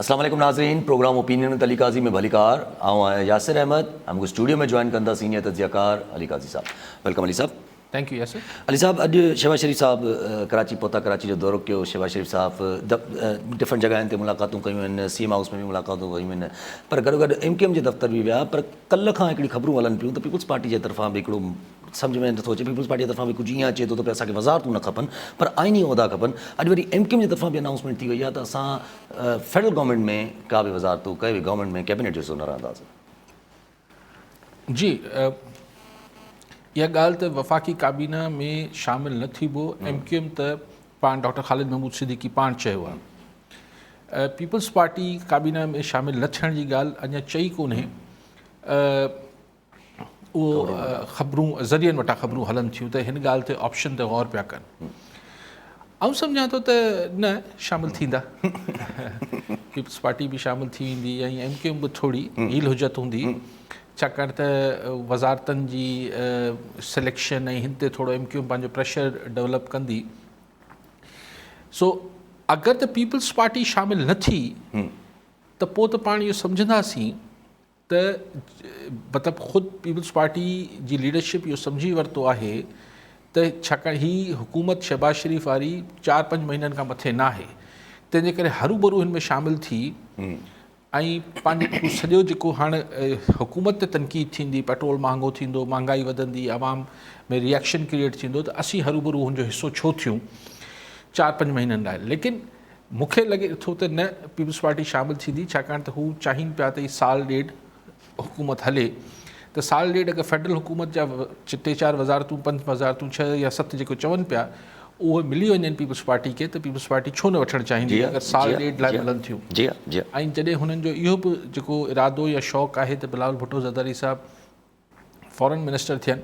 اسلام عليڪم ناظرين programme opinion with Ali Qazi ۾ به علي قار آئون آهيان ياسر احمد ۽ مون کي اسٽوڊيو ۾ جوائن ڪن ٿا سينيئر تجزيه ڪار علي قاضي صاحب ويلڪم علي صاحب. Thank you Yasir. علي صاحب اڄ شهباز شريف صاحب ڪراچي پهتا ڪراچي جو دورو ڪيو شهباز شريف صاحب ڊفرنٽ جڳهين تي ملاقاتون ڪيون آهن سي ايم هائوس ۾ به ملاقاتون ڪيون آهن پر گڏو گڏ ايم ڪيو ايم جي دفتر به ويا پر ڪلهه کان هڪڙي خبرون هلن پيون ته پيپلز پارٽي جي طرفان به هڪڙو سمجهه ۾ نٿو اچي پيپلز پارٽي جي طرفان به ڪجهه ايئن اچي ٿو ته اسان کي وزارتون نه کپن پر آئيني عهدا کپن اڄ وري ايم ڪيو ايم جي طرفان به انائونسمينٽ ٿي وئي آهي ته اسان فيڊرل گورنمينٽ ۾ ڪا به وزارتون ڪنهن به گورنمينٽ ۾ ڪيبنيٽ جو حصو نه رهنداسين. جي اها ڳالهه ته وفاقي ڪابينا ۾ شامل نه ٿيبو ايم ڪيو ايم ته پاڻ ڊاڪٽر خالد محمود صديقي پاڻ چيو آهي پيپلز پارٽي ڪابينا ۾ شامل نه ٿيڻ جي ڳالهه اڃا چئي ڪونهي اهو خبرون ذريعن وٽان خبرون هلن ٿيون ته هن ڳالهه تي آپشن تي غور پيا ڪن آئون سمجهان ٿو ته نه شامل ٿيندا پيپلز پارٽي به شامل ٿي ويندي ۽ ايم ڪيو ايم به ٿوري هيل حجت هوندي ڇاڪاڻ ته وزارتن جي سليڪشن ۽ هن تي ٿورو ايم ڪيو ايم پنهنجو پريشر ڊيولپ ڪندي سو اگر ته پيپلز پارٽي شامل نه ٿي ته پوء ته پاڻ اهو سمجهنداسين ته مطلب خود پيپلز پارٽي جي ليڊرشپ اهو سمجهي ورتو آهي ته ڇاڪاڻ هي حڪومت شهباز شريف واري چار پنج مهينن کان مٿي نه آهي تنهن جي ڪري هرو برو هن ۾ شامل ٿي ۽ پنهنجو سڄو جيڪو هاڻ حڪومت تي تنقيد ٿيندي پيٽرول مهانگو ٿيندو مهانگائي وڌندي عوام ۾ ريئڪشن ڪريئيٽ ٿيندو ته اسين هرو برو هن جو حصو ڇو ٿيون چار پنج مهينن لاء ليڪن مون کي لڳي ٿو ته نه پيپلز پارٽي شامل ٿيندي ڇاڪاڻ ته هو چاهين پيا ته هي سال ڏيڍ حڪومت هلي ته سال ڏيڍ اگر فيڊرل حڪومت جا ٽي چار وزارتون پنج وزارتون ڇهه يا ست جيڪو چون پيا اهي ملي وڃن پيپلز پارٽي کي ته پيپلز پارٽي ڇو نه وٺڻ چاهيندي اگر سال ڏيڍ لاء ملن ٿيون ۽ جڏهن هنن جو اهو به جيڪو ارادو يا شوق آهي ته بلاول ڀٽو زرداري صاحب فارن منسٽر ٿين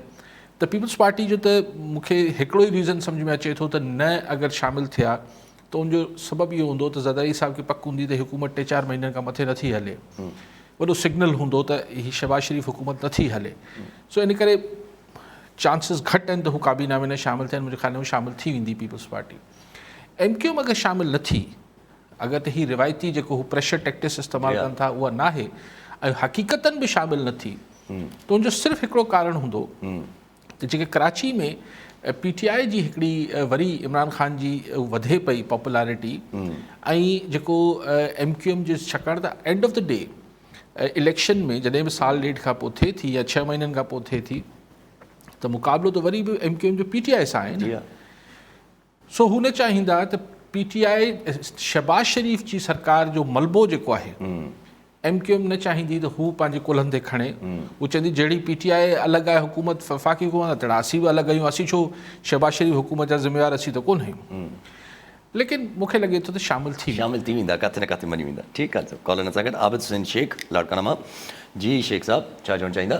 ته پيپلز پارٽي جو ته مون کي هڪڙو ئي ريزن سمجھ ۾ اچي ٿو ته نه اگر شامل ٿيا ته ان جو سبب اهو هوندو ته زرداري صاحب کي پڪ هوندي ته حڪومت ٽي چار مهينن کان مٿي نٿي هلي وڏو سگنل هوندو ته هي شهباز شريف حڪومت نٿي هلي سو ان ڪري چانسز گھٽ آهن ته هو ڪابينا ۾ نه شامل ٿين منهنجي خيال ۾ شامل ٿي ويندي Peoples Party M Q M اگر شامل نه ٿي اگر ته هي روايتي جيڪو هو پريشر ٽيڪٽس استعمال ڪن ٿا اها ناهي ۽ حقيقتن به شامل نه ٿي ته ان جو صرف هڪڙو ڪارڻ هوندو ته جيڪي ڪراچي ۾ پي ٽي آء جي هڪڙي وري عمران خان جي وڌي پئي پاپولارٽي ۽ جيڪو ايم ڪيو ايم جي ڇاڪاڻ ته end of the day election ۾ جڏهن به سال ڏيڍ کان پوء ٿئي ٿي يا ڇهه مهينن کان پوء ٿئي ٿي ته مقابلو ته وري به ايم ڪيو ايم جو پي ٽي آء سان آهي سو هو نه چاهيندا ته پي ٽي آء شهباز شريف جي سرڪار جو ملبو جيڪو آهي ايم ڪيو ايم نه چاهيندي ته هو پنهنجي ڪلهن تي کڻي هو چوندي جهڙي پي ٽي آء الڳ آهي حڪومت وفاقي حڪومت تهڙا اسين به الڳ آهيون اسين ڇو شهباز شريف حڪومت جا ذميوار اسين ته ڪونه آهيون ليڪن مون کي لڳي ٿو ته شامل ٿي شامل ٿي ويندا ڪاٿي نه ڪاٿي مڃي ويندا ٺيڪ آهي سر ڪالرن سان گڏ عابد حسين شيخ لاڙڪاڻا مان جي شيخ صاحب ڇا چوڻ چاهيندا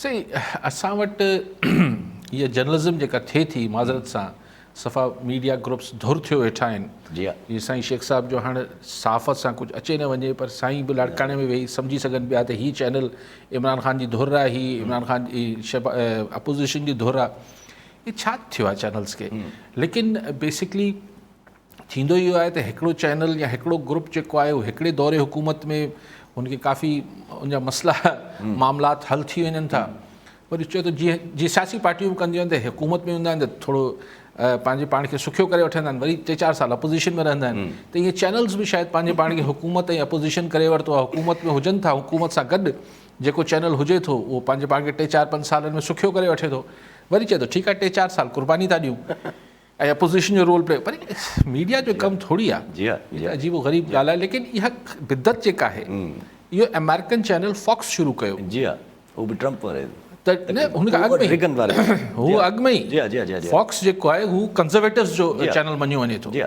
سائين اسان وٽ هيء جرنلزم جيڪا ٿئي ٿي معذرت سان صفا ميڊيا گروپس ڌر ٿيو ويٺا آهن جي هي سائين شيخ صاحب جو هاڻ صحافت سان ڪجهه اچي نه وڃي پر سائين به لاڙڪاڻي ۾ ويهي سمجهي سگهن پيا ته هي چينل عمران خان جي ڌر آهي هي عمران خان جي اپوزيشن جي ڌر آهي هي ڇا ٿيو آهي چينلز کي ليڪن بيسڪلي ٿيندو اهو آهي ته هڪڙو چينل يا هڪڙو گروپ جيڪو آهي اهو هڪڙي دور حڪومت ۾ ان کي ڪافي ان جا مسئلا معاملات حل ٿي وڃن ٿا وري چئو ته جيئن جي سياسي پارٽيون ڪنديون آهن ته حڪومت ۾ هوندا آهن ته ٿورو پنهنجي پاڻ کي سکيو ڪري وٺندا آهن وري ٽي چار سال اپوزيشن ۾ رهندا آهن ته ائين چينلز به شايد پنهنجي پاڻ کي حڪومت ۽ اپوزيشن ڪري ورتو آهي حڪومت ۾ هجن ٿا حڪومت سان گڏ جيڪو چينل هجي ٿو اهو پنهنجي پاڻ کي ٽي چار پنج سالن ۾ سکيو ڪري وٺي ٿو وري چئي ٿو ٺيڪ آهي ٽي چار سال قرباني ٿا ڏيون اهي اپوزيشن جو رول پلي پر ميڊيا جو ڪم ٿوري آ جي جي عجيب و غريب ڳالهه آهي ليڪن اها بدعت جيڪا آهي اهو امريڪن چينل فاڪس شروع ڪيو جي ها هو به ٽرمپ واري هن کان اڳ ۾ ريگن واري هو اڳ ۾ جي جي جي فاڪس جيڪو آهي هو ڪنزرويٽوز جو چينل مڃيو وڃي ٿو جي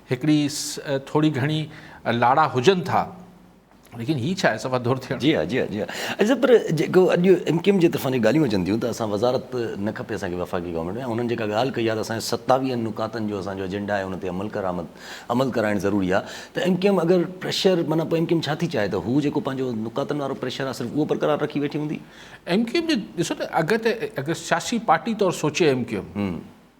هڪڙي ٿوري گهڻي لاڙا هجن ٿا ليڪن هي ڇا آهي صفا ڌر ٿيڻ. جي ها جي ها جي ها اڄ صاحب پر جيڪو اڄ ايم ڪيو ايم جي طرفان جي ڳالهيون اچن ٿيون ته اسان وزارت نه کپي اسان کي وفاقي گورنمينٽ ۾ ۽ انهن جيڪا ڳالهه ڪئي آهي ته اسان جي ستاويهن نڪاتن جو اسان جو ايجنڊا آهي ان تي عمل ڪرآمد عمل ڪرائڻ ضروري آهي ته ايم ڪيو ايم اگر پريشر معنيٰ پوء ايم ڪيو ايم ڇا ٿي چاهي ته هو جيڪو پنهنجو نڪاتن وارو پريشر آهي صرف اهو برقرار رکي ويٺي هوندي. ايم ڪيو ايم جي ڏسو ته اگر ته اگر سياسي پارٽي طور سوچي ايم ڪيو ايم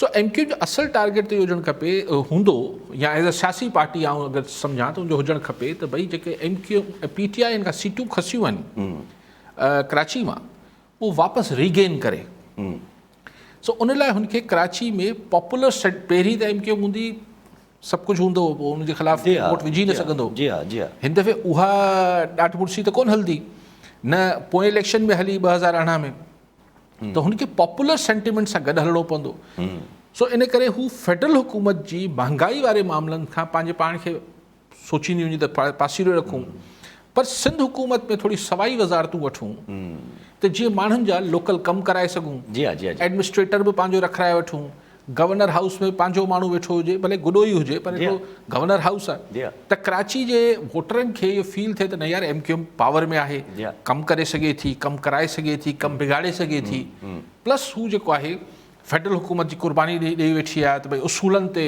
سو ايم ڪيو جو اصل ٽارگيٽ ته اهو هجڻ کپي هوندو يا ايز اي سياسي پارٽي آئون اگر سمجهان ته ان جو هجڻ کپي ته ڀئي جيڪي M Q P T I ان کان سيٽون کسيون آهن ڪراچي مان اهو واپس ريگين ڪري سو ان لاء هن کي ڪراچي ۾ پاپولر سيٽ پهرين ته ايم ڪيو هوندي سڀ ڪجهه هوندو پوء ان جي خلاف جي ووٽ وجهي نه سگهندو جي ها جي ها هن دفعي اها ڏاڍ مڙسي ته ڪون هلندي نه پوئين اليڪشن ۾ هلي ٻه هزار ارڙهن ۾ ته هن کي پاپولر سينٽيمينٽ سان گڏ هلڻو پوندو سو ان ڪري هو فيڊرل حڪومت جي مهانگائي واري معاملن کان پنهنجي پاڻ کي سوچينديون هيون ته پاسيري رکون پر سنڌ حڪومت ۾ ٿوري سوائي وزارتون وٺون ته جيئن ماڻهن جا لوڪل ڪم ڪرائي سگهون ايڊمنسٽريٽر به پنهنجو رکرائي وٺون گورنر هائوس ۾ پنهنجو ماڻهو ويٺو هجي ڀلي گڏو ئي هجي پر هڪڙو گورنر هائوس آهي ته ڪراچي جي ووٽرن کي اهو فيل ٿئي ته نه يار ايم ڪيو ايم پاور ۾ آهي ڪم ڪري سگهي ٿي ڪم ڪرائي سگهي ٿي ڪم بگاڙي سگهي ٿي پلس هو جيڪو آهي فيڊرل حڪومت جي قرباني ڏئي ڏئي ويٺي آهي ته ڀائی اصولن تي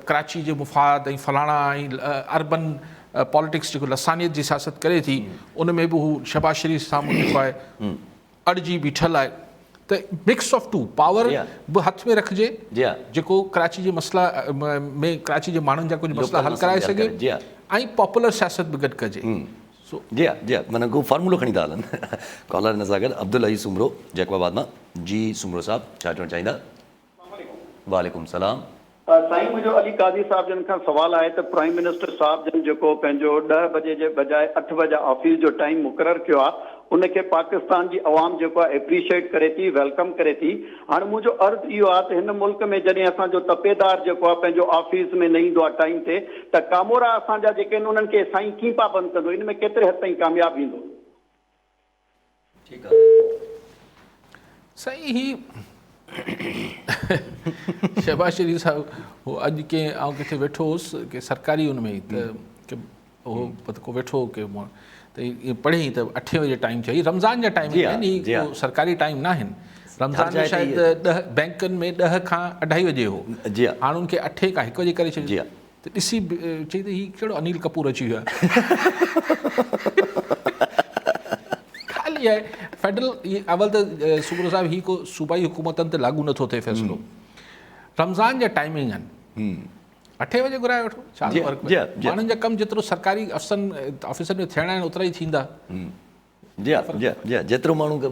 ڪراچي جي مفاد ۽ فلاڻا ۽ اربن پاليٽڪس جيڪو لسانيت جي سياست ڪري ٿي ان ۾ به هو شهباز شريف سامهون جيڪو آهي اڙجي بيٺل آهي ته مڪس آف ٽو پاور به هٿ ۾ رکجي جيڪو ڪراچي جي مسئلا ۾ ڪراچي جي ماڻهن جا ڪجهه مسئلا حل ڪرائي سگهي ۽ پاپولر سياست به گڏ ڪجي جي جي مانا ڪو فارمولو کڻي ٿا هلن ڪالر ان سان گڏ عبدالعزيز سومرو جيڪب آباد مان جي سومرو صاحب ڇا چوڻ چاهيندا اسلام عليڪم. وعليڪم السلام. سائين منهنجو علي قاضي صاحب جن کان سوال آهي ته پرائيم منسٽر صاحب جن جيڪو پنهنجو ڏهه بجي جي بجاء اٺ بجا آفيس جو ٽائيم مقرر ڪيو آ ان کي پاڪستان جي عوام جيڪو آ اپريشيئيٽ ڪري ٿي ويلڪم ڪري ٿي هاڻ منهنجو عرض اهو آ ته هن ملڪ ۾ جڏهن اسان جو تپيدار جيڪو آ پنهنجو آفيس ۾ نه ايندو آ ٽائيم تي ته ڪامورا اسان جا جيڪي ان انهن کي سائين ڪين پابند ڪندو ان ۾ ڪيتري حد تائين ڪامياب ايندو. سائين هي شهباز شريف صاحب هو اڄ ڪنهن آئون ڪٿي ويٺو هوس ڪنهن سرڪاري ان ۾ ته هو ڪو ويٺو هو ڪنهن ماڻهو ته ائين پڙهي ته اٺين بجي ٽائيم چئي رمضان جا ٽائيم آهن سرڪاري ٽائيم نه آهن رمضان جا شايد ڏهه بئنڪن ۾ ڏهه کان اڍائي بجي هو هاڻ ان کي اٺين کان هڪ بجي ڪري ڇڏيو ته ڏسي چئي ته هي ڪهڙو انيل ڪپور اچي ويو آهي فيڊرل اول ته سوبرو صاحب هي ڪو صوبائي حڪومتن تي لاڳو نٿو ٿئي فيصلو رمضان جا ٽائمنگ آهن اٺي وڄي گهرائي وٺو ڇا ٿو فرق پئي ماڻهن جا ڪم جيترو سرڪاري افسرن آفيسن ۾ ٿيڻا آهن اوترا ئي ٿيندا جي ها جي ها جي ها جيترو ماڻهو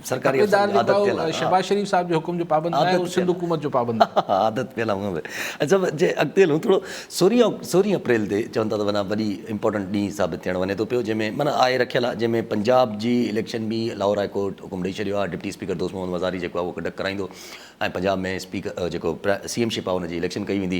سرڪاري افسرن جي عادت پيل آهي شهباز شريف صاحب جي حڪم جو پابند ناهي هو سنڌ حڪومت جو پابند آهي عادت پيل آهي اچا جي اڳتي هلون ٿورو سورهين سورهين اپريل تي چون ٿا ته معنيٰ وڏي امپورٽنٽ ڏينهن ثابت ٿيڻ وڃي ٿو پيو جنهن ۾ معنيٰ آء رکيل آهي جنهن ۾ پنجاب جي اليڪشن به لاهور هاء ڪورٽ حڪم ڏئي ڇڏيو آهي ڊپٽي اسپيڪر دوست محمد مزاري جيڪو آهي اهو ڪنڊڪٽ ڪرائيندو ۽ پنجاب ۾ اسپيڪر جيڪو سي ايم شپ آهي ان جي اليڪشن ڪئي ويندي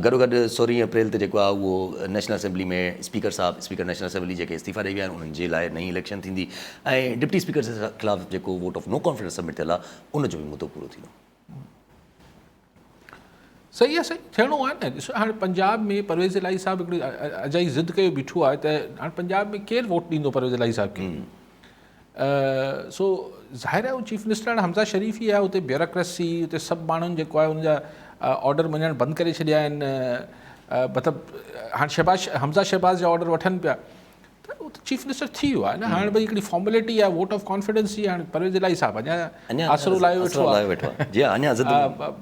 گڏوگڏ سورهين اپريل تي جيڪو آهي اهو نيشنل اسيمبلي ۾ اسپيڪر صاحب اسپيڪر نيشنل اسيمبلي جيڪي استعيفا ڏئي ويا آهن انهن جي لاء نئين اليڪشن ٿيندي ۽ ڊپٽي اسپيڪر جي خلاف جيڪو vote of no confidence submit ٿيل آهي ان جو به مدو پورو ٿيندو. صحيح آهي سائين ٿيڻو آهي نه ڏسو هاڻي پنجاب ۾ پرويز الاهي صاحب هڪڙي اجائي ضد ڪيو بيٺو آهي ته هاڻي پنجاب ۾ ڪير ووٽ ڏيندو پرويز الاهي صاحب کي سو ظاهر آهي هو چيف منسٽر هاڻي حمزه شريف ئي آهي اتي بيوراڪريسي اتي سڀ ماڻهن جيڪو آهي ان جا آرڊر مڃڻ بند ڪري ڇڏيا آهن مطلب هاڻي شهباز حمزه شهباز جا آرڊر وٺن پيا چيف منسٽر ٿي ويو آهي نه هاڻي بھي هڪڙي فارملٽي آهي ووٽ آف ڪانفيڊنس جي هاڻي پرويز الائي صاحب اڃا آسرو لايو ويٺو آهي جي اڃا ضد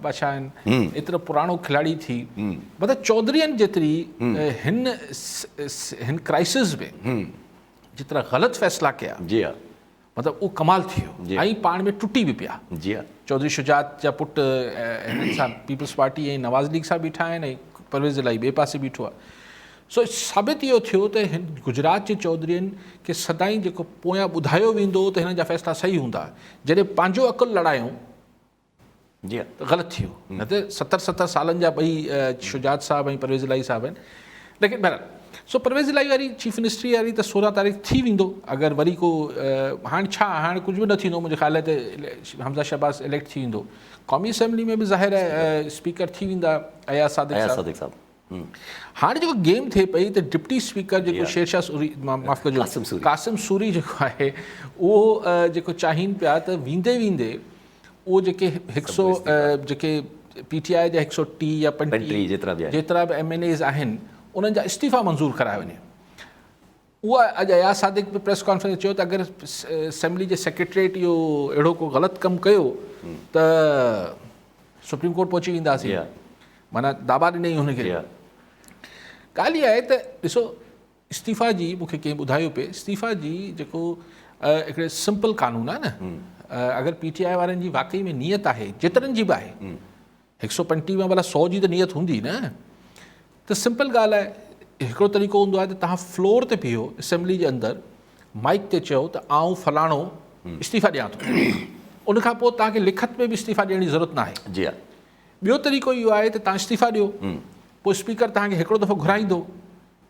بادشاھ آهن ايترو پراڻو کلاڙي ٿي مطلب چوڌرين جيتري هن هن ڪرائسس ۾ جيترا غلط فيصلا ڪيا جي ها مطلب اهو ڪمال ٿي ويو جي ۽ پاڻ ۾ ٽٽي به پيا جي ها چوڌري شجاعت جا پٽ هنن سان پيپلز پارٽي ۽ نواز ليگ سان بيٺا آهن ۽ پرويز الاهي ٻئي پاسي بيٺو آهي سو ثابت اهو ٿيو ته هن گجرات جي چوڌرين کي سدائين جيڪو پويان ٻڌايو ويندو ته هنن جا فيصلا صحيح هوندا جڏهن پنهنجو عقل لڙايون جي غلط ٿيو نه ته ستر ستر سالن جا ٻئي شجاعت صاحب ۽ پرويز الاهي صاحب آهن ليڪن بهرحال سو پرويز الاهي واري چيف منسٽري واري ته سورهن تاريخ ٿي ويندو اگر وري کو هاڻ ڇا هاڻ ڪجهه به نه ٿيندو منهنجي خيال ته حمزه شهباز اليڪٽ ٿي ويندو قومي اسيمبلي ۾ به ظاهر اسپيڪر ٿي ويندا اياز صادق صاحب هاڻي جيڪو گيم ٿئي پئي ته ڊپٽي اسپيڪر جيڪو شيرشاهه سوري معاف ڪجو قاسم سوري جيڪو آهي اهو جيڪو چاهين پيا ته ويندي ويندي اهو جيڪي هڪ سو جيڪي پي ٽي آء جا هڪ سو ٽي يا پنجٽيهه جيترا به ايم اين ايز آهن انهن جا استعيفا منظور ڪرايا وڃي اها اڄ اياز صادق به پريس ڪانفرنس ۾ چيو ته اگر اسيمبلي جي سيڪريٽريٽ اهو اهڙو ڪو غلط ڪم ڪيو ته سپريم ڪورٽ پهچي وينداسين معنيٰ داٻا ڏني هن کي ڳالهه اها آهي ته ڏسو استعيفا جي مونکي ڪنهن ٻڌايو پئي استعيفا جي جيڪو هڪڙي سمپل قانون آهي نه اگر پي ٽي آء وارن جي واقعي ۾ نيت آهي جيترن جي به آهي هڪ سؤ پنجٽيهه مان ڀلا سؤ جي ته نيت هوندي نه ته سمپل ڳالهه آهي هڪڙو طريقو هوندو آهي ته تهان فلور تي بيهو اسيمبلي جي اندر مائڪ تي چئو ته آئون فلاڻو استعيفا ڏيان ٿو ان کان پوء تهان کي لکت ۾ به استعيفا ڏيڻ جي ضرورت ناهي جي ها ٻيو طريقو اهو آهي ته تهان استعيفا ڏيو پوء اسپيڪر تهان کي هڪڙو دفعو گهرائيندو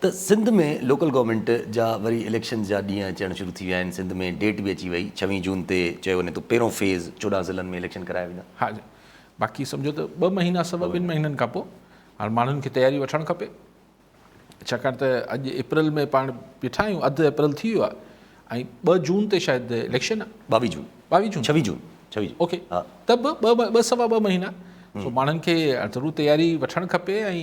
ته سنڌ ۾ لوڪل گورنمينٽ جا وري اليڪشنز جا ڏينهن اچڻ شروع ٿي ويا آهن، سنڌ ۾ ڊيٽ به اچي وئي، ڇويهن جون تي چيو وڃي ٿو پهريون فيز چوڏهن ضلعن ۾ اليڪشن ڪرايا ويندا. ها جي باقي سمجهو ته ٻه مهينا سوا ٻن مهينن کان پوء هاڻ ماڻهن کي تياري وٺڻ کپي ڇاڪاڻ ته اڄ اپريل ۾ پاڻ بيٺا آهيون اڌ اپريل ٿي ويو آهي ۽ ٻه جون تي شايد اليڪشن آهي ٻاويهه جون ٻاويهه جون ڇويهه جون ڇويهه جون اوڪي ها ته به ٻه ٻه سوا ٻه مهينا سو ماڻهن کي ضرور تياري وٺڻ کپي ۽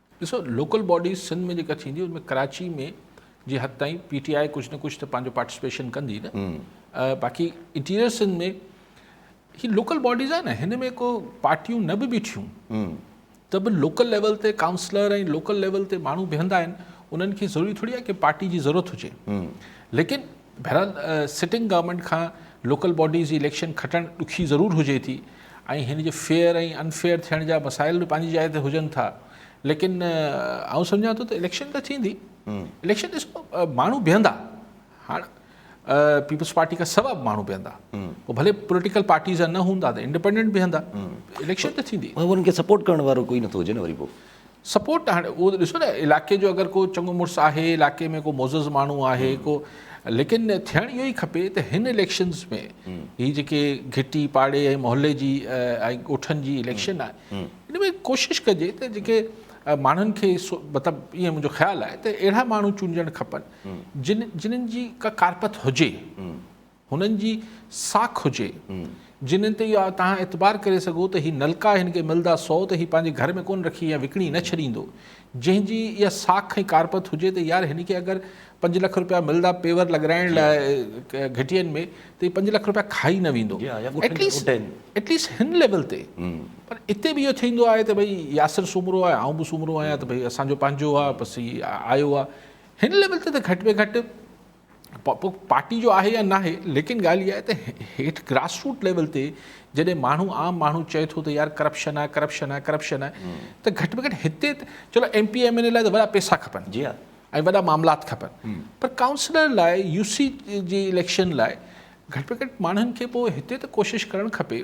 ڏسو لوڪل باڊيز سنڌ ۾ جيڪا ٿيندي ان ۾ ڪراچي ۾ جي حد تائين پي ٽي آء ڪجهه نه ڪجهه ته پنهنجو پارٽيسپيشن ڪندي نه باقي انٽيريئر سنڌ ۾ هي لوڪل باڊيز آهي نه هن ۾ ڪو پارٽيون نه به بيٺيون ته به لوڪل ليول تي ڪائونسلر ۽ لوڪل ليول تي ماڻهو بيهندا آهن انهن کي ضروري ٿوري آهي ڪي پارٽي جي ضرورت هجي ليڪن بهرحال سٽنگ گورنمينٽ کان لوڪل باڊيز جي اليڪشن کٽڻ ڏکي ضرور هجي ٿي ۽ هن جي فيئر ۽ ان فيئر ٿيڻ جا مسائل به پنهنجي جاء تي هجن ٿا ليڪن آئون سمجهان ٿو ته اليڪشن ته ٿيندي اليڪشن ڏسو ماڻهو بيهندا هاڻ پيپلز پارٽي کان سوا به ماڻهو بيهندا پوء ڀلي پوليٽيڪل پارٽيز نه هوندا ته انڊيپينڊنٽ بيهندا اليڪشن ته ٿيندي انهن کي سپورٽ ڪرڻ وارو ڪوئي نٿو هجي نه وري پوء سپورٽ هاڻي اهو ته ڏسو نه علاقي جو اگر ڪو چڱو مڙس آهي علاقي ۾ ڪو معزز ماڻهو آهي ڪو ليڪن ٿيڻ اهو ئي کپي ته هن اليڪشنز ۾ هي جيڪي گهٽي پاڙي ۽ محلي جي ۽ ڳوٺن جي اليڪشن آهي ان ۾ ڪوشش ڪجي ته جيڪي ماڻهن کي مطلب ائين منهنجو خيال آهي ته اهڙا ماڻهو چونڊجڻ کپن جن جنن جي ڪا ڪارپت هجي هنن جي ساک هجي جنھن تي اها توهان اعتبار ڪري سگهو ته هي نلڪا هن کي ملدا سو ته هي پنهنجي گهر ۾ ڪونه رکي يا وڪڻي نه ڇڏيندو جنھن جي اها ساک ۽ ڪارپت هجي ته يار هن کي اگر پنج لک رپيا ملدا پيور لڳرائڻ لاء گهٽين ۾ ته هي پنج لک رپيا کائي نه ويندو ايٽ ليسٽ ايٽ ليسٽ هن ليول تي پر اتي به اهو ٿيندو آهي ته ڀئي ياسر سومرو آهي آئون به سومرو آهيان ته ڀئي اسان جو پنهنجو آهي بس هي آيو آهي هن ليول تي ته گهٽ ۾ گهٽ پوء پارٽي جو آهي يا ناهي ليڪن ڳالهه اها آهي ته هيٺ گراس روٽ ليول تي جڏهن ماڻهو عام ماڻهو چئي ٿو ته يار ڪرپشن آهي ڪرپشن آهي ڪرپشن آهي ته گهٽ ۾ گهٽ هتي چلو M P M N A لاء ته وڏا پيسا کپن جي ها ۽ وڏا معاملات کپن پر ڪائونسلر لاء يو سي جي اليڪشن لاء گهٽ ۾ گهٽ ماڻهن کي پوء هتي ته ڪوشش ڪرڻ کپي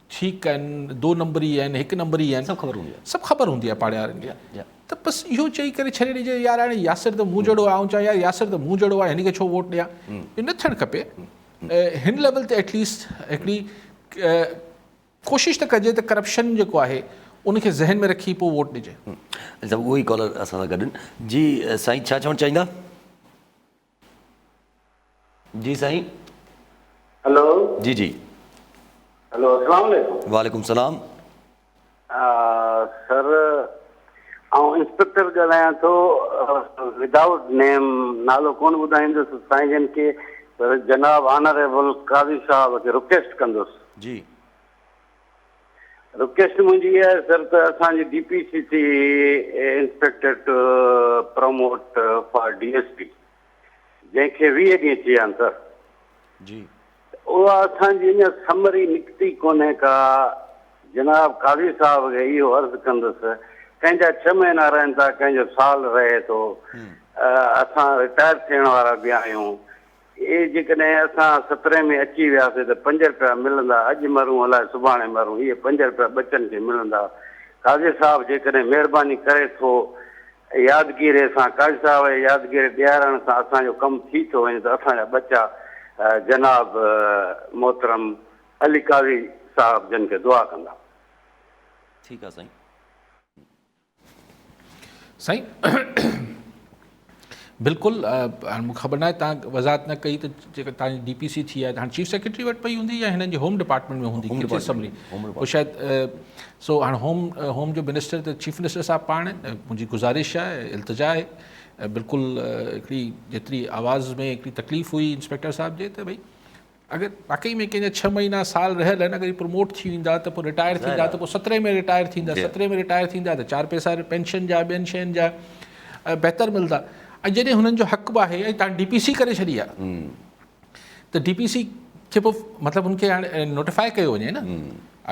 ٺيڪ آهن دو نمبري آهن هڪ نمبري آهن سڀ خبر هوندي آهي سڀ خبر هوندي آهي پاڙي وارن کي ته بس اهو چئي ڪري ڇڏي ڏجي يار هاڻي ياسر ته مون جهڙو آهي آئون چوان يار ياسر ته مون جهڙو آهي هن کي ڇو ووٽ ڏيان اهو نه ٿيڻ کپي هن ليول تي ايٽليسٽ هڪڙي ڪوشش ته ڪجي ته ڪرپشن جيڪو آهي ان کي ذهن ۾ رکي پوء ووٽ ڏجي اچا اهو ئي ڪالر اسان سان گڏ جي سائين ڇا چوڻ چاهيندا جي سائين هلو جي جي هلو اسلام عليڪم وعليڪم سلام سر آئون انسپيڪٽر ڳالهايان ٿو ودائوٽ نيم نالو ڪون ٻڌائيندس سائين جن کي جناب آنريبل قاضي صاحب کي رڪويسٽ ڪندس جي رڪويسٽ منهنجي اها آهي سر ته اسان جي D P C C inspector to promote for D S P جنهن کي ويهه ڏينهن ٿي ويا آهن سر جي اها اسان جي اڃا سمري نڪتي ڪونهي ڪا جناب قاضي صاحب کي اهو عرض ڪندس ڪنهن جا ڇهه مهينا رهن ٿا ڪنهن جو سال رهي ٿو اسان رٽائر ٿيڻ وارا به آهيون اي جيڪڏهن اسان سترهين ۾ اچي وياسي ته پنج رپيا ملندا اڄ مرون الائي سڀاڻي مرون اهي پنج رپيا ٻچن کي ملندا قاضي صاحب جيڪڏهن مهرباني ڪري ٿو يادگيري سان قاضي صاحب اهي يادگيري ڏيارڻ سان اسان جو ڪم ٿي ٿو وڃي ته اسان جا ٻچا جناب محترم علي قاضي صاحب جن کي دعا ڪندا. ٺيڪ آ سائين. سائين بلڪل هاڻي مونکي خبر ناهي تان وضاحت نه ڪئي ته جيڪا تان جي ڊي پي سي ٿي آهي هاڻي چيف سيڪريٽري وٽ پئي هوندي يا هنن جي هوم ڊپارٽمينٽ ۾ هوندي ڪيچ اسمبلي او شايد سو هاڻي هوم هوم جو منسٽر ته چيف منسٽر صاحب پاڻ منهنجي گزارش آهي التجا آهي بلڪل هڪڙي جيتري آواز ۾ هڪڙي تڪليف هئي انسپيڪٽر صاحب جي ته ڀئي اگر واقعي ۾ ڪنهن جا ڇهه مهينا سال رهيل آهن اگر هي پروموٽ ٿي ويندا ته پوء رٽائر ٿيندا ته پوء سترهين ۾ رٽائر ٿيندا سترهين ۾ رٽائر ٿيندا ته چار پئسا پينشن جا ٻين شين جا بهتر ملدا ۽ جڏهن هنن جو حق به آهي ۽ تان ڊي پي سي ڪري ڇڏي آهي ته ڊي پي سي کي پوء مطلب هن کي هاڻي نوٽيفائي ڪيو وڃي نه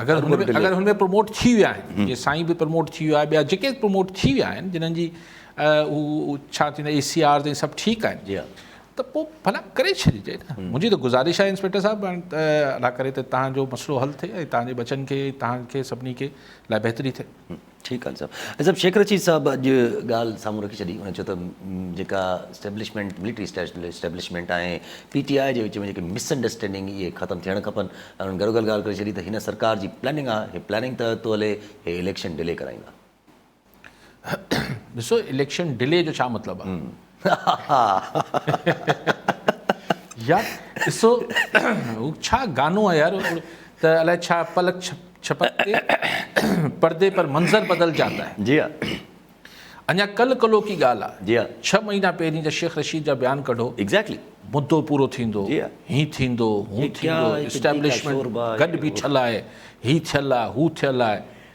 اگر هن ۾ اگر هن ۾ پروموٽ ٿي ويا آهن جيئن سائين به پروموٽ ٿي ويو ٻيا جيڪي پروموٽ ٿي ويا آهن جنهن جي هو ڇا ٿيندو اي سي آر تائين سڀ ٺيڪ آهن ته پوء ڀلا ڪري ڇڏجي نه. منهنجي ته گذارش آهي انسپيڪٽر صاحب هاڻي ته الله ڪري ته تهان جو مسئلو حل ٿئي ۽ تهان جي ٻچن کي ۽ تهان کي سڀني کي لاء بهتري ٿئي. ٺيڪ آهن صاحب. ۽ صاحب شيخ رشيد صاحب اڄ ڳالهه سامهون رکي ڇڏي ان چيو ته جيڪا establishment military establishment ۽ P T I جي وچ ۾ جيڪي مس انڊرسٽينڊنگ اهي ختم ٿيڻ کپن ۽ انهن گهرو گهر ڳالهه ڪري ڇڏي ته هن سرڪار جي پلاننگ آهي هي پلاننگ تحت ٿو هلي هي اليڪشن ڊلي ڪرائيندا. ڏسو اليڪشن ڊلي جو ڇا مطلب آ يار ڏسو هو ڇا گانو آ يار ته الائي ڇا پلڪ ڇپڪتي پردي پر منظر بدل جاتا هي جي ها اڃا ڪل ڪلو ڪي ڳالهه آ جي ها ڇهه مهينا پهرين جا شيخ رشيد جا بيان ڪڍو ايگزيڪٽلي مدو پورو ٿيندو هي ٿيندو هو ٿيندو اسٽيبلشمنٽ گڏ بيٺل آهي هي ٿيل آ هو ٿيل آ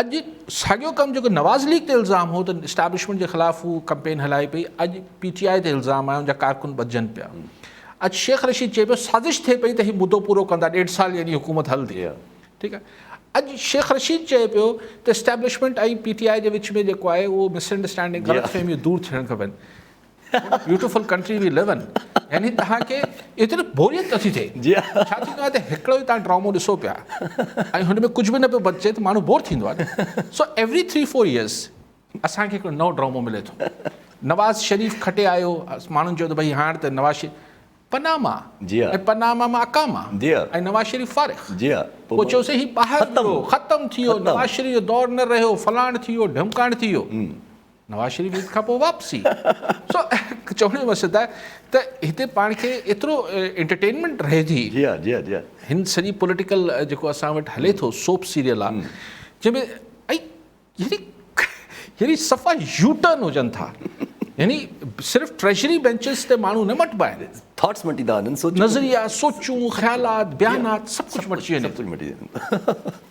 اڄ ساڳيو ڪم جيڪو نواز ليگ تي الزام هو ته اسٽيبلشمينٽ جي خلاف هو ڪمپين هلائي پئي اڄ پي ٽي آء تي الزام آهي ان جا ڪارڪن ٻڌجن پيا اڄ شيخ رشيد چئي پيو سازش ٿئي پئي ته هي مدو پورو ڪندا ڏيڍ سال يعني حڪومت هلندي ٺيڪ آهي اڄ شيخ رشيد چئي پيو ته اسٽيبلشمينٽ ۽ پي ٽي آء جي وچ ۾ جيڪو آهي اهو مس انڊرسٽينڊنگ غلط فهميون دور ٿيڻ کپن beautiful country we love in يعني تهان کي ايتري بوريت نه ٿي ٿئي ڇا ٿيندو آهي ته هڪڙو ئي تهان ڊرامو ڏسو پيا ۽ هن ۾ ڪجهه به نه پيو بچجي ته ماڻهو بور ٿيندو آهي سو ايوري ٿري فور ايئرز اسان کي هڪڙو نئون ڊرامو ملي ٿو نواز شريف کٽي آيو ماڻهن چيو ته ڀئي هاڻ ته نواز شريف پناما جي ۽ پناما مان اقاما جي ۽ نواز شريف فارغ جي پوء چيو سي هي ٻاهر ختم ختم ٿي ويو نواز شريف جو دور نه رهيو فلاڻ ٿي ويو ڍمڪاڻ ٿي ويو نواز شريف عيد کان پوء واپسي سو چوڻ جو مقصد آهي ته هتي پاڻ کي ايترو انٽرٽينمينٽ رهي ٿي جي ها جي ها جي ها هن سڄي پوليٽيڪل جيڪو اسان وٽ هلي ٿو سوپ سيريل آ جنهن ۾ يعني يعني صفا يوٽرن هجن ٿا يعني صرف ٽريجري بينچز تي ماڻهو نه مٽبا آهن ٿاٽس مٽي ٿا وڃن نظريا سوچون خيالات بيانات سڀ ڪجهه مٽجي وڃي ٿو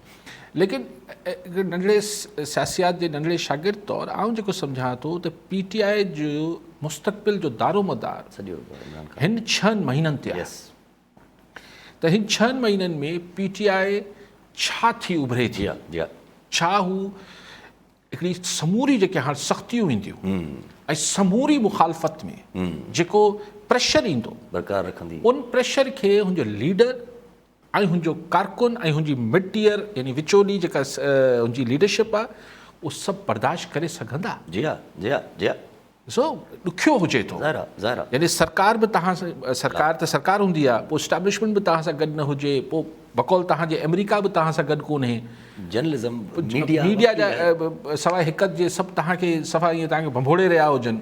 ليڪن هڪ ننڍڙي سياسيات جي ننڍڙي شاگرد طور آئون جيڪو سمجهان ٿو ته پي ٽي آء جو مستقبل جو دارومدار هن ڇهن مهينن تي آهي ته هن ڇهن مهينن ۾ پي ٽي آء ڇا ٿي اڀري ٿي ڇا هو هڪڙي سموري جيڪي هاڻ سختيون اينديون ۽ سموري مخالفت ۾ جيڪو پريشر ايندو برقرار رکندي ان پريشر کي هن جو ليڊر ۽ هن جو ڪارڪن ۽ هن جي مڊيئر يعني وچولي جيڪا هن جي ليڊرشپ آهي اهو سڀ برداشت ڪري سگهندا؟ جي ها جي ها جي ها. ڏسو ڏکيو هجي ٿو. ظاهر آهي ظاهر آهي. يعني سرڪار به توهان سان سرڪار ته سرڪار هوندي آهي پوء اسٽيبلشمينٽ به توهان سان گڏ نه هجي پوء بقول توهان جي آمريڪا به توهان سان گڏ ڪونهي جرنلزم ميڊيا ميڊيا جا سواء هڪ جي سڀ توهان کي صفا ائين توهان کي ڀنڀوڙي رهيا هجن.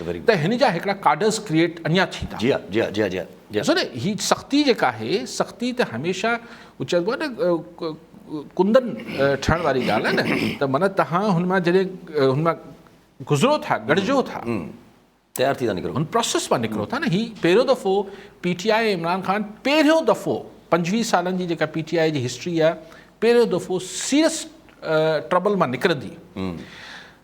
ته هن جا هڪڙا ڪاڊرز ڪريئيٽ اڃا ٿيندا. جي ها جي ها جي ها جي ها جي ها. ڏسو نه هي سختي جيڪا آهي سختي ته هميشه هو چئبو آهي نه ڪندن ٺهڻ واري ڳالهه آهي نه ته معنيٰ تهان هن مان جڏهن هن مان گذرو ٿا گڏجو ٿا تيار ٿي ٿا نڪرو هن پروسيس مان نڪرو ٿا نه هي پهريون دفعو P T I ۽ Imran Khan پهريون دفعو پنجويهه سالن جي جيڪا پي ٽي آء جي هسٽري آهي پهريون دفعو سيريس ٽربل مان نڪرندي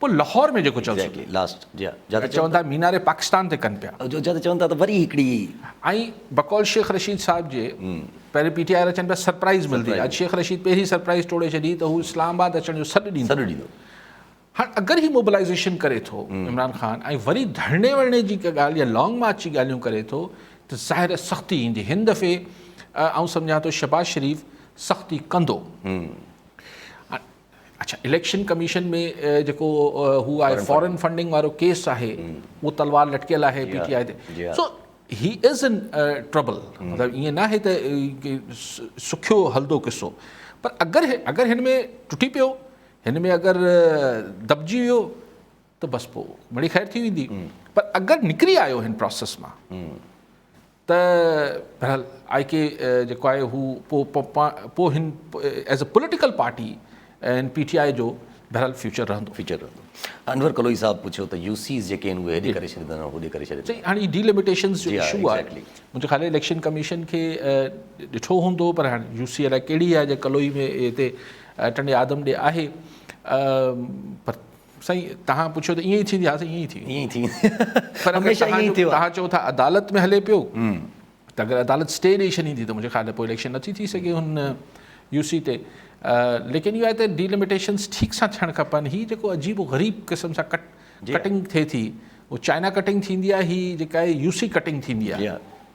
پوء لاهور ۾ جيڪو چوسين. Exactly last جي ها. ته چون ٿا مينار پاڪستان تي ڪن پيا. جو جد چون ٿا ته وري هڪڙي. ۽ بقول شيخ رشيد صاحب جي پهرين پي ٽي آئي وارا چون پيا سرپرائز ملدي اڄ شيخ رشيد پهرين سرپرائز ٽوڙي ڇڏي ته هو اسلام آباد اچڻ جو سڏ ڏيندو سڏ ڏيندو هاڻ اگر هي موبلائيزيشن ڪري ٿو عمران خان ۽ وري ڌرڻي ورڻي جي ڪا ڳالهه يا لانگ مارچ جي ڳالهيون ڪري ٿو ته ظاهر آهي سختي ايندي هن دفعي آئون سمجهان ٿو شهباز شريف سختي ڪندو اڇا اليڪشن ڪميشن ۾ جيڪو هو آهي فارن فنڊنگ وارو ڪيس آهي اهو تلوار لٽڪيل آهي پي ٽي آء تي سو هي از ان ٽربل مطلب ائين ناهي ته سکيو هلندو قصو پر اگر اگر هن ۾ ٽٽي پيو هن ۾ اگر دٻجي ويو ته بس پوء مڙئي خير ٿي ويندي پر اگر نڪري آيو هن پراسيس مان ته بهرحال آء ڪي جيڪو آهي هو پوء هن ايز اي پوليٽيڪل پارٽي هن پي ٽي آء جو بهرحال فيوچر رهندو فيوچر رهندو انور ڪلوئي صاحب پڇيو ته يو سيز جيڪي آهن اهي هيڏي ڪري ڇڏيندا يا هوڏي ڪري ڇڏيندا صحيح هاڻي ڊي لميٽيشنز جو ايشو آهي منهنجي خيال اليڪشن ڪميشن کي ڏٺو هوندو پر هاڻي يو سي الاء ڪهڙي آهي جي ڪلوئي ۾ هتي ٽنڊي آدم ڏي آهي پر سائين توهان پڇيو ته ائين ئي ٿيندي ها سائين ائين ئي ٿي ائين ئي ٿي پر اگر توهان چئو ٿا عدالت ۾ هلي پيو ته اگر عدالت اسٽي ڏئي ڇڏيندي ته منهنجي خيال ۾ پوء اليڪشن نٿي ٿي سگهي هن يو سي تي ليڪن اهو آهي ته ڊيلميٽيشنس ٺيڪ سان ٿيڻ کپن هي جيڪو عجيب و غريب قسم سان ڪٽ ڪٽنگ ٿئي ٿي چائنا ڪٽنگ ٿيندي آهي هي جيڪا يو سي ڪٽنگ ٿيندي آهي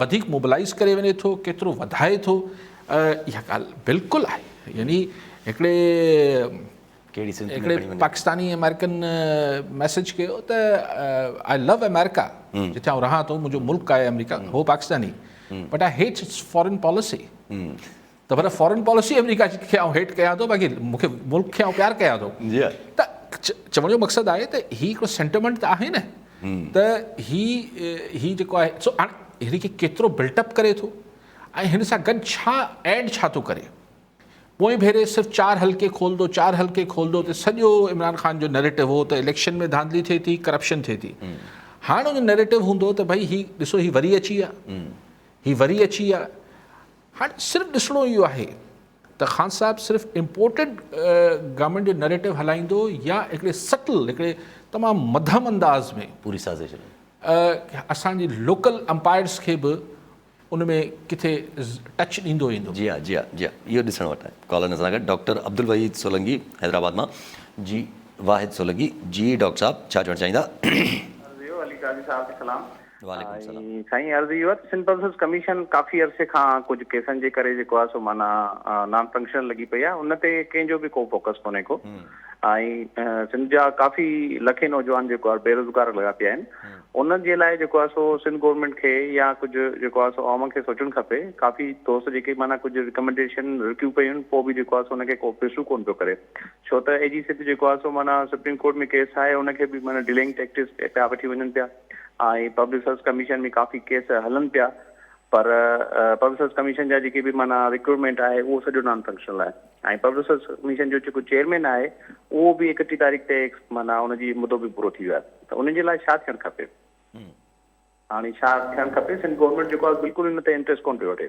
وڌيڪ موبلائيز ڪري وڃي ٿو ڪيترو وڌائي ٿو اها ڳالهه بلڪل آهي يعني هڪڙي پاڪستاني امريڪن ميسج ڪيو ته آء لو امريڪا جتي آء رهان ٿو منهنجو ملڪ آهي امريڪا هو Pakistani but I hate its foreign policy ته پر فارن پاليسي آمريڪا جي کي آئون هيٽ ڪيان ٿو باقي مون کي ملڪ کي آئون پيار ڪيان ٿو ته چوڻ جو مقصد آهي ته هي هڪڙو سينٽيمنٽ ته آهي نه ته هي هي جيڪو آهي سو هاڻي هن کي ڪيترو بلٽ اپ ڪري ٿو ۽ هن سان گڏ ڇا ايڊ ڇا ٿو ڪري پوئين ڀيري صرف چار حلقي کولندو چار حلقي کولندو ته سڄو عمران خان جو نيريٽو هو ته اليڪشن ۾ ڌانڌلي ٿئي ٿي ڪرپشن ٿئي ٿي هاڻ ان نيريٽو هوندو ته ڀئي هي ڏسو هي وري اچي ويا هي وري اچي ويا هاڻي صرف ڏسڻو اهو آهي ته خان صاحب صرف امپورٽيڊ گارمينٽ جو نريٽو هلائيندو يا هڪڙي سٽل هڪڙي تمام مدهم انداز ۾ پوري سازش ۾ اسان جي لوڪل امپائرز کي به ان ۾ ڪٿي ٽچ ڏيندو ويندو. جي ها جي ها جي ها اهو ڏسڻ وٽ آهي. ڪالر اسان سان گڏ ڊاڪٽر عبدالوحيد سولنگي حيدرآباد مان جي واحد سولنگي جي ڊاڪٽر صاحب ڇا چوڻ چاهيندا. عرض اهو علي قاضي صاحب کي سلام وعليڪم السلام. سائين عرض اهو آهي ته سنڌ پلسز ڪميشن ڪافي عرصي کان ڪجهه ڪيسن جي ڪري جيڪو آهي سو معنيٰ نان فنڪشنل لڳي پئي آهي ان تي ڪنهن جو به ڪو فوڪس ڪونهي ڪو ۽ سنڌ جا ڪافي لکين نوجوان جيڪو آهي بيروزگار لڳا پيا آهن انهن جي لاء جيڪو آهي سو سنڌ گورنمينٽ کي يا ڪجهه جيڪو آهي سو عوام کي سوچڻ کپي ڪافي دوست جيڪي معنيٰ ڪجهه رڪمنڊيشن رڪيون پيون پوء به جيڪو آهي سو ان کي ڪو پرسو ڪون پيو ڪري ڇو ته اي جي سنڌ جيڪو آهي سو معنيٰ سپريم ڪورٽ ۾ ڪيس آهي ان کي به معنيٰ ڊلينگ ٽيڪٽس پيا وٺي وڃن پيا ۽ پبلڪ سروس ڪميشن ۾ ڪافي ڪيس هلن پيا پر پبلڪ سروس ڪميشن جا جيڪي به معنيٰ رڪروٽمينٽ آهي اهو سڄو نان فنڪشنل آهي ۽ پبلڪ سروس ڪميشن جو جيڪو چيئرمين آهي اهو به اڪٽي تاريخ تي معنيٰ ان جي مدو به پورو ٿي ويو آهي ته ان جي لاء ڇا ٿيڻ کپي هاڻي ڇا ٿيڻ کپي سنڌ گورنمينٽ جيڪو آهي بلڪل ان تي انٽريسٽ ڪونه پيو وٺي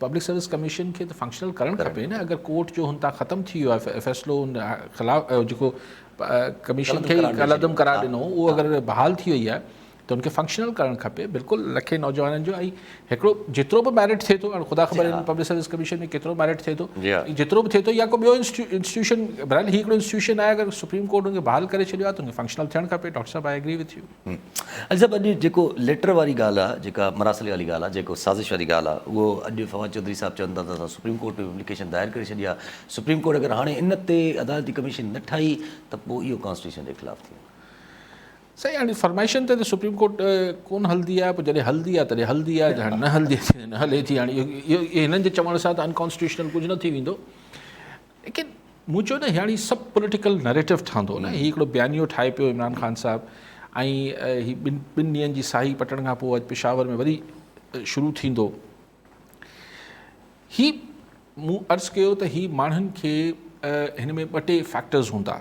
پبلڪ سروس ڪميشن کي ته فنڪشنل ڪرڻ کپي نه اگر ڪورٽ جو هن تان ختم ٿي ويو آهي فيصلو ان خلاف جيڪو ڪميشن کي ڪالعدم قرار ڏنو اهو اگر بحال ٿي وئي آهي ته ان کي فنڪشنل ڪرڻ کپي بلڪل لکين نوجوانن جو ۽ هڪڙو جيترو به ميرٽ ٿئي ٿو هاڻي خدا خبر آهي پبلڪ سروس ڪميشن ۾ ڪيترو ميرٽ ٿئي ٿو جيترو به ٿئي ٿو يا ڪو ٻيو انسٽيٽيوشن برحال هي هڪڙو انسٽيٽيوشن آهي اگر سپريم ڪورٽ ان کي بحال ڪري ڇڏيو آهي ته ان کي فنڪشنل ٿيڻ کپي ڊاڪٽر صاحب I agree with you Ali صاحب اڄ جيڪو ليٽر واري ڳالهه آ جيڪا مراسلي واري ڳالهه آ جيڪو سازش واري ڳالهه آ اهو اڄ فواد چوڌري صاحب چون ٿا ته اسان سپريم ڪورٽ ۾ به اپليڪيشن دائر ڪري ڇڏي آ سپريم ڪورٽ اگر هاڻي ان تي عدالتي ڪميشن نه ٺاهي ته پوء اهو ڪانسٽيٽيوشن جي خلاف ٿي ويندو. سائين هاڻي فرمائشن تي ته سپريم ڪورٽ ڪون هلندي آ پوء جڏهن هلندي آ تڏهن هلندي آ جڏهن نه هلندي آ تڏهن نه هلي ٿي هاڻي اهو هنن جي چوڻ سان ته انڪانسٽيٽيوشنل ڪجهه نه ٿي ويندو ليڪن مون چيو نه هياڻي سڀ پوليٽيڪل نريٽو ٺهندو نه هي هڪڙو بيانيو ٺاهي پيو عمران خان صاحب ۽ هي ٻن ٻن ڏينهن جي ساهي پٽڻ کان پوء اڄ پشاور ۾ وري شروع ٿيندو هي مون عرض ڪيو ته هي ماڻهن کي هن ۾ ٻه ٽي فيڪٽرز هوندا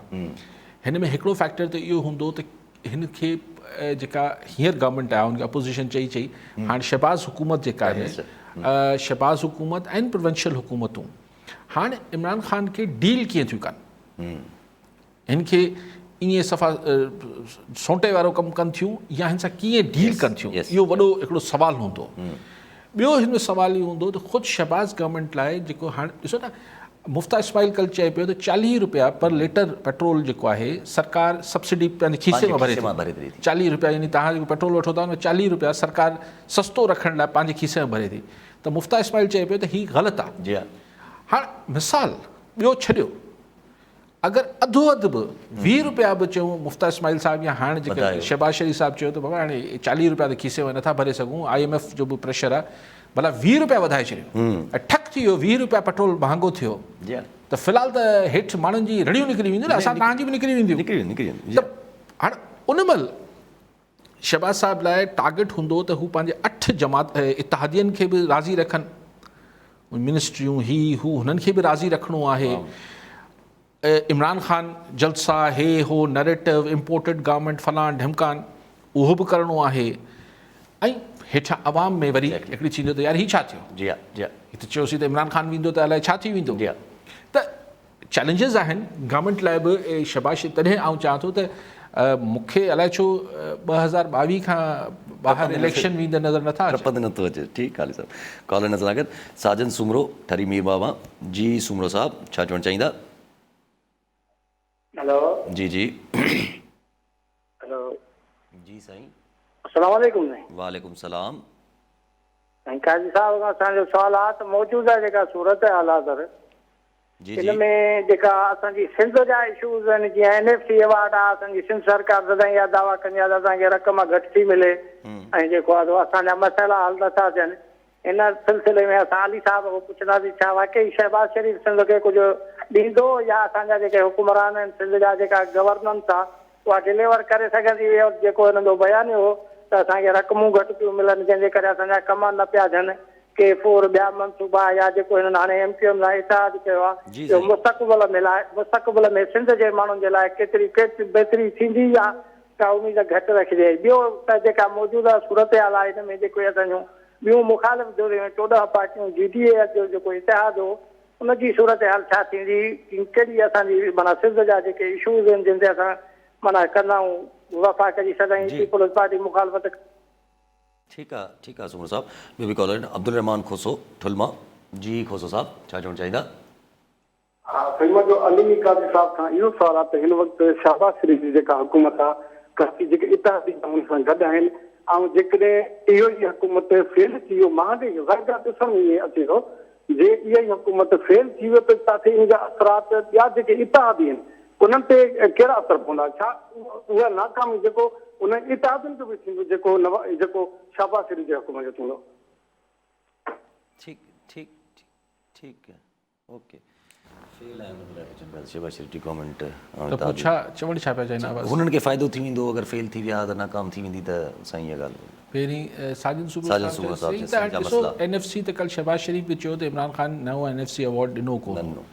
هن ۾ هڪڙو فيڪٽر ته اهو هوندو ته هن کي جيڪا هينئر گورنمنٽ آهي ان کي اپوزيشن چئي چئي هاڻي شهباز حڪومت جيڪا آهي شهباز حڪومت ۽ پروونشل حڪومتون هاڻ عمران خان کي ڊيل ڪيئن ٿيون ڪن هن کي ائين صفا سونٽي وارو ڪم ڪن ٿيون يا هن سان ڪيئن ڊيل ڪن ٿيون اهو وڏو هڪڙو سوال هوندو ٻيو هن ۾ سوال اهو هوندو ته خود شهباز گورنمنٽ لاء جيڪو هاڻ ڏسو نا مفتا اسماعيل کل چئي پيو ته چاليهه روپيا پر ليٽر پيٽرول جيڪو آهي سرڪار سبسڊي پنهنجي کيسي مان ڀري ٿي چاليهه روپيا يعني تهان جيڪو پيٽرول وٺو ٿا ان چاليهه روپيا سرڪار سستو رکڻ لاء پنهنجي کيسي ۾ ڀري ٿي ته مفتاح اسماعيل چئي پيو ته هي غلط آ. جي ها. هاڻ مثال ٻيو ڇڏيو اگر اڌو اڌ به ويهه روپيا به چئون مفتاح اسماعيل صاحب يا هاڻ جيڪا شهباز شريف صاحب چيو ته بابا هاڻي چاليهه روپيا ته کيسي ۾ نٿا ڀري سگهون آء ايم ايف جو به پريشر آ ڀلا ويهه روپيا وڌائي ڇڏيو ۽ ٺڪ ٿي ويو ويهه روپيا پيٽرول مهانگو ٿيو ته في الحال ته هيٺ ماڻهن جي رڙيون نڪري وينديون نه اسان توهان جي به نڪري وينديون نڪري وينديون نڪري وينديون ته هاڻ ان مهل شهباز صاحب لاء ٽارگيٽ هوندو ته هو پنهنجي اٺ جماعت اتحادين کي به راضي رکن منسٽريون هي هو هنن کي به راضي رکڻو آهي عمران خان جلسا هي هو نريٽو امپورٽيڊ گورنمنٽ فلان ڍمڪان اهو به ڪرڻو آهي ۽ هيٺان عوام ۾ وري هڪڙي ٿيندو ته يار هي ڇا ٿيو جي جي هي ته چيوسي ته عمران خان ويندو ته الائي ڇا ٿي ويندو ته چئلينجز آهن گورنمينٽ لاء به شاباشي تڏهن آئون چاهان ٿو ته مون کي الائي ڇو ٻه هزار ٻاويهه کان ٻاهر اليڪشن ويندا نظر نٿا اچن ٽپندي نٿو اچي ٺيڪ علي صاحب ڪالر نظر آگت ساجن سومرو ٺري مير بابا جي سومرو صاحب ڇا چوڻ چاهيندا هلو جي جي هلو. جي سائين. اسلام عليڪم سائين. وعليڪم سلام. سائين قاضي صاحب اسان جو سوال آ ته موجوده جيڪا صورتحال آ سر جي جي. ان ۾ جيڪا اسان جي سنڌ جا اشوز آهن جيئن اين ايف سي ايوارڊ آ اسان جي سنڌ سرڪار سدائين اها دعويٰ ڪندي آ ته اسان کي رقم گهٽ ٿي ملي ۽ جيڪو آ سو اسان جا مسئلا حل نٿا ٿين ان سلسلي ۾ اسان علي صاحب کان پڇنداسين ڇا واقعي شهباز شريف سنڌ کي ڪجهه ڏيندو يا اسان جا جيڪي حڪمران آهن سنڌ جا جيڪا گورننس آهي اها ڊليور ڪري سگهندي هئي اور جيڪو هنن جو بيانيو هو ته اسان کي رقمون گهٽ پيون ملن جنهن جي ڪري اسان جا ڪم نه پيا ٿين ڪي فور ٻيا منصوبا يا جيڪو هنن هاڻي ايم ڪيو ايم سان اتحاد ڪيو آهي اهو مستقبل ۾ لاء مستقبل ۾ سنڌ جي ماڻهن جي لاء ڪيتري بهتري ٿيندي يا ڪا اميد گهٽ رکجي. ٻيو ته جيڪا موجوده صورتحال آهي ان ۾ جيڪي اسان جون ٻيون مخالف ڌريون ۽ چوڏهن پارٽيون جي ڊي اي جو جيڪو اتحاد هو ان جي صورتحال ڇا ٿيندي ڪهڙي اسان جي معنيٰ سنڌ جا جيڪي اشوز آهن جن تي اسان معنيٰ ڪندائون وفا ڪري سدائين جي. پيپلز پارٽي مخالفت. ٺيڪ آ ٺيڪ آ سومرو صاحب ٻيو به ڪالر آهن عبدالرحمان کوسو ٺل مان جي کوسو صاحب ڇا چوڻ چاهيندا. ها فلم جو علمي قاضي صاحب کان اهو سوال آ ته هن وقت شهباز شريف جي جيڪا حڪومت آ ڪراچي جيڪي اتحادي به ان سان گڏ آهن ۽ جيڪڏهن اهو ئي حڪومت فيل ٿي ويو مان به ظاهر ڳالهه ڏسڻ ۾ ائين اچي ٿو جي اها ئي حڪومت فيل ٿي ويو ته تاکي ان جا اثرات ٻيا جيڪي اتحادي آهن انهن تي ڪهڙا اثر پوندا ڇا اها ناڪامي جيڪو انهن اتحادين جو به ٿيندو جيڪو جيڪو شهباز شريف جي حڪومت جو ٿيندو ٺيڪ ٺيڪ ٺيڪ ٺيڪ هنن کي فائدو ٿي ويندو اگر فيل ٿي ويا ته ناڪام ٿي ويندي ته سائين اها ڳالهه پهرين ساجن صوبه صاحب چيو سائين تهان ڏسو اين ايف سي ته ڪل شهباز شريف به چيو ته عمران خان نئون اين ايف سي ايوارڊ ڏنو ڪو نه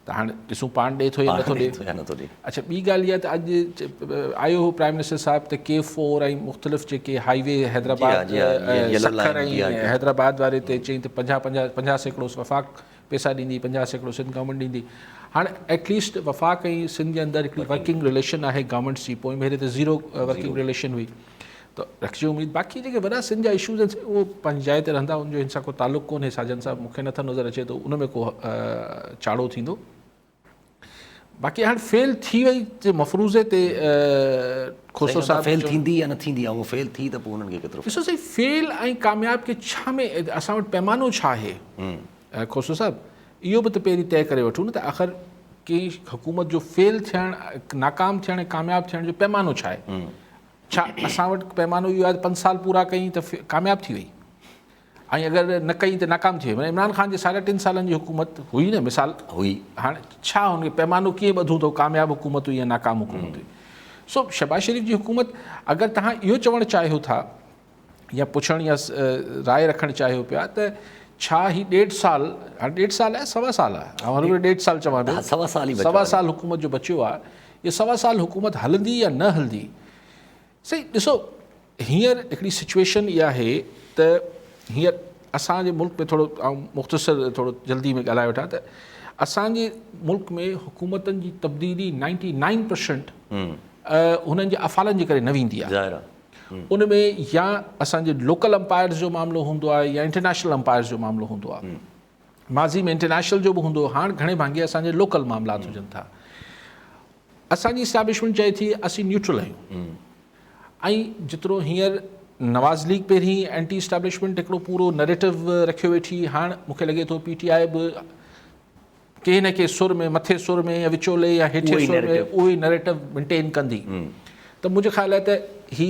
ته هاڻ ڏسون پاڻ ڏي ٿو يا نٿو ڏي اڇا ٻي ڳالهه اها ته اڄ آيو هو پرائيم منسٽر صاحب ته ڪي فور ۽ مختلف جيڪي هائي وي حيدرآباد سکر ۽ حيدرآباد واري تي چئين ته پنجاهه پنجاهه پنجاهه سيڪڙو وفاق پيسا ڏيندي پنجاهه سيڪڙو سنڌ گورنمينٽ ڏيندي هاڻ ايٽ ليسٽ وفاق ۽ سنڌ جي اندر هڪڙي ورڪنگ رليشن آهي گورنمينٽس جي پوئين ڀيري ته زيرو ورڪنگ رليشن هئي ته رکجي اميد باقي جيڪي وڏا سنڌ جا اشوز آهن اهو پنهنجي جاء تي رهندا ان جو هن سان ڪو تعلق ڪونهي ساجن صاحب مونکي نٿو نظر اچي ته ان ۾ ڪو چاڙهو ٿيندو باقي هاڻ فيل ٿي وئي جي مفروضي تي کوسو صاحب فيل ٿيندي يا نه ٿيندي هو فيل ٿي ته پوء انهن کي ڪيترو ڏسو سائين فيل ۽ ڪامياب کي ڇا ۾ اسان وٽ پيمانو ڇا آهي کوسو صاحب اهو به ته پهرين طئي ڪري وٺون نه ته آخر ڪنهن حڪومت جو فيل ٿيڻ ناڪام ٿيڻ ۽ ڪامياب ٿيڻ جو پيمانو ڇا آهي ڇا اسان وٽ پيمانو اهو آهي پنج سال پورا ڪيائين ته ڪامياب ٿي وئي ائين اگر نه ڪئي ته ناڪام ٿي ويئي. عمران خان جي ساڍا ٽن سالن جي حڪومت هئي نه مثال هئي. هاڻي ڇا هن کي پيمانو ڪيئن ٻڌون ته ڪامياب حڪومت هئي يا ناڪام حڪومت هئي. سو شهباز شريف جي حڪومت اگر توهان اهو چوڻ چاهيو ٿا يا پڇڻ يا راء رکڻ چاهيو پيا ته ڇا هي ڏيڍ سال هاڻي ڏيڍ سال آهي سوا سال آهي آئون هر ويل ڏيڍ سال چوان پيو سوا سال حڪومت جو بچيو آهي اهي سوا سال حڪومت هلندي يا نه هلندي سائين ڏسو هينئر هڪڙي سچويشن اها آهي ته هينئر اسان جي ملڪ ۾ ٿورو آئون مختصر ٿورو جلدي ۾ ڳالهائي وٺان ته اسان جي ملڪ ۾ حڪومتن جي تبديلي نائنٽي نائن پرسنٽ هنن جي افعالن جي ڪري نه ويندي آهي ظاهر آهي ان ۾ يا اسان جي لوڪل امپائرز جو معاملو هوندو آهي يا انٽرنيشنل امپائرز جو معاملو هوندو آهي ماضي ۾ انٽرنيشنل جو به هوندو هو هاڻ گهڻي ڀاڱي اسان جي لوڪل معاملات هجن ٿا اسان جي اسٽيبلشمينٽ چئي ٿي اسين نيوٽرل آهيون ۽ جيترو هينئر نواز ليگ پهرين اينٽي اسٽيبلشمينٽ هڪڙو پورو نريٽو رکيو ويٺي هاڻ مون کي لڳي ٿو پي ٽي آء به ڪنهن نه ڪنهن سر ۾ مٿي سر ۾ يا وچولي يا هيٺي سر ۾ اهو ئي نريٽو مينٽين ڪندي ته منهنجو خيال آهي ته هي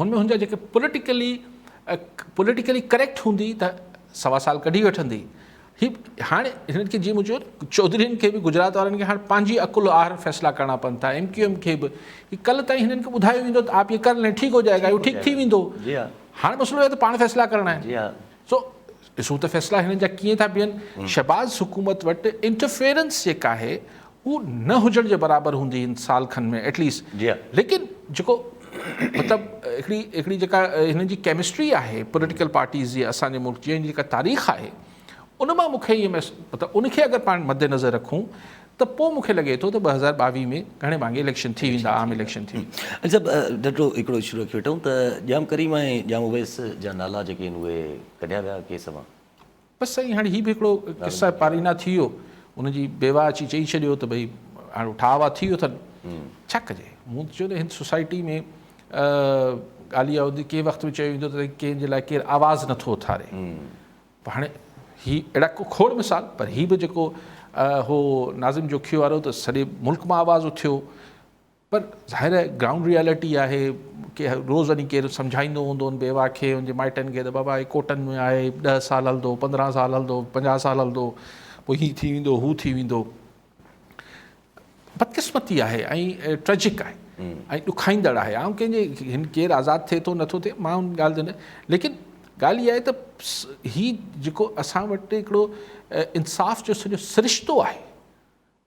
هن ۾ هن جا جيڪي پوليٽيڪلي پوليٽيڪلي ڪريڪٽ هوندي ته سوا سال ڪڍي وٺندي هي هاڻي هن کي جي مون چيو چوڌرين کي به گجرات وارن کي هاڻي پنهنجي عقل آهر فيصلا ڪرڻا پون ٿا ايم ڪيو ايم کي به هي ڪل تائين هنن کي ٻڌايو ويندو ته آپ يي ڪر لين ٺيڪ هو جائي گا اهو ٺيڪ ٿي ويندو هاڻي مسئلو هي ته پاڻ فيصلا ڪرڻا آهن سو ڏسون ته فيصلا هنن جا ڪيئن ٿا بيهن. شهباز حڪومت وٽ انٽرفيئرنس جيڪا آهي هو نه هجڻ جي برابر هوندي هن سال کن ۾ ايٽ ليسٽ ليڪن جيڪو مطلب هڪڙي هڪڙي جيڪا هنن جي ڪيمسٽري آهي پوليٽيڪل پارٽيز جي اسان جي ملڪ جي هن جي جيڪا تاريخ آهي ان مان مون کي ائين مطلب ان کي اگر پاڻ مد نظر رکون ته پوء مون کي لڳي ٿو ته ٻه هزار ٻاويهه ۾ گهڻي ڀاڱي اليڪشن ٿي ويندا عام اليڪشن ٿي ويندا. علي صاحب ننڍڙو هڪڙو اشو رکي وٺون ته ڄام ڪريم ۽ ڄام اويس جا نالا جيڪي آهن اهي ڪڍيا ويا ڪيس مان. بس سائين هاڻي هي به هڪڙو قصه پارينا ٿي ويو ان جي بيواهه اچي چئي ڇڏيو ته ڀئي هاڻي ٺاهه واهه ٿي ويو اٿن ڇا ڪجي مون ته چيو ته هن سوسائٽي ۾ ڳالهه اها هوندي ڪنهن وقت به چيو ويندو ته ڪنهن جي لاء ڪير آواز نٿو اٿاري هاڻي هي اهڙا ڪو کوڙ مثال پر هي به جيڪو هو ناظم جوکيو وارو ته سڄي ملڪ مان آواز اٿيو پر ظاهر آهي گرائونڊ ريئلٽي آهي ڪي روز وڃي ڪير سمجهائيندو هوندو ان بيواهه کي ان جي مائٽن کي ته بابا هي ڪوٽن ۾ آهي ڏهه سال هلندو پندرهن سال هلندو پنجاهه سال هلندو پوء هي ٿي ويندو هو ٿي ويندو بدقسمتي آهي ۽ ٽريجڪ آهي ۽ ڏکائيندڙ آهي عام ڪنهن جي هن ڪير آزاد ٿئي ٿو نٿو ٿئي مان ان ڳالهه تي ليڪن ڳالهه اها آهي ته هي جيڪو اسان وٽ هڪڙو انصاف جو سڄو سرشتو آهي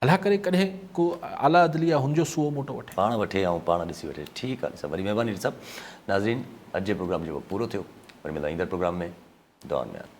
الاهه ڪري ڪڏهن ڪو اعليٰ عدليه هن جو سوئو موٽو وٺي پاڻ وٺي يا پاڻ ڏسي وٺي ٺيڪ آهي ڏي صاحب وڏي مهرباني ڏي صاحب ناظرين اڄ جو پروگرام جيڪو پورو ٿيو وري ملنداسين ايندڙ پروگرام ۾ دعائن ۾ ياد